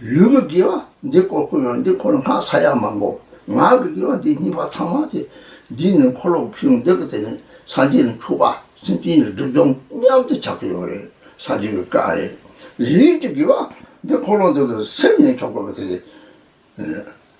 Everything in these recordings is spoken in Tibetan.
ལུས་ཀྱི་དགེ་བ་འདི་ཀོ་ཀོ་ཡང་འདི་འཁོར་ལོ་སྔགས་ཚ་ཡ་མང་པོ། ངག་གི་དགེ་བ་འདི་སྙིང་པ་ཚང་མ་སྟེ། འདིས་ནི་འཁོར་ལོ་ཕུལ་བྱུང་འདི་ཀ་དེ་ནི་སངས་རྒྱས་ནི་ཆུ་བ་སེམས་ཅན་ཡི་སྒྲིབ་སྦྱོང་སྙམ་དུ་ཆགས་ཀྱི་ཡོད་རེད་སངས་རྒྱས་ཀྱི་བཀའ་རེད། ལུས་ཀྱི་དགེ་བ་འདི་འཁོར་ལོ་འདི་ཏུ་སེམས་ནི་ཆོག་གོ་བ་དེ།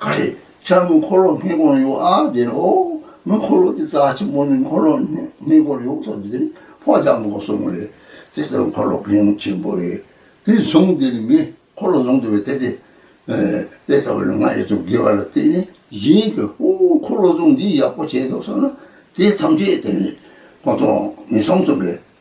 ག་རེ། ཆར་དངུལ་འཁོར་ལོ་སྔས་སྒོར་ཡོད་ཨ་དེ་རེད་ཨོ། དངུལ་འཁོར་ལོ་དེ་རྩ་ཆེན་པོ་ནས་འཁོར་ལོ་སྔས་སྒོར་ཡོད་ཐོག་དེ་རེད་ཕོ་རྒྱག་མི་དགོ་སོང་རེད། དེ་ལྟར་འཁོར་ལོ་སྒང་ཆེན་པོ་རེད། དེ་བཟུང་དེ་ནས་མི་འཁོར་ལོ་བཟུང་དེ་བས་དེ་དེ། དེ་ལྟ་བུ་ལ་ང་ཡོད་དུ་དགེ་བ་ལ་བརྟེན་ནས་གཞན་གྱི་ཧོ་འཁོར་ལོ་བཟུང་འདི་ཡག་པོ་བྱས་འདུག་བསམ་ན་དེ་མཚམས་ཆད་དེ་ནས་གོང་མཐོང་མི་མཚམས་མཚམས་རེད།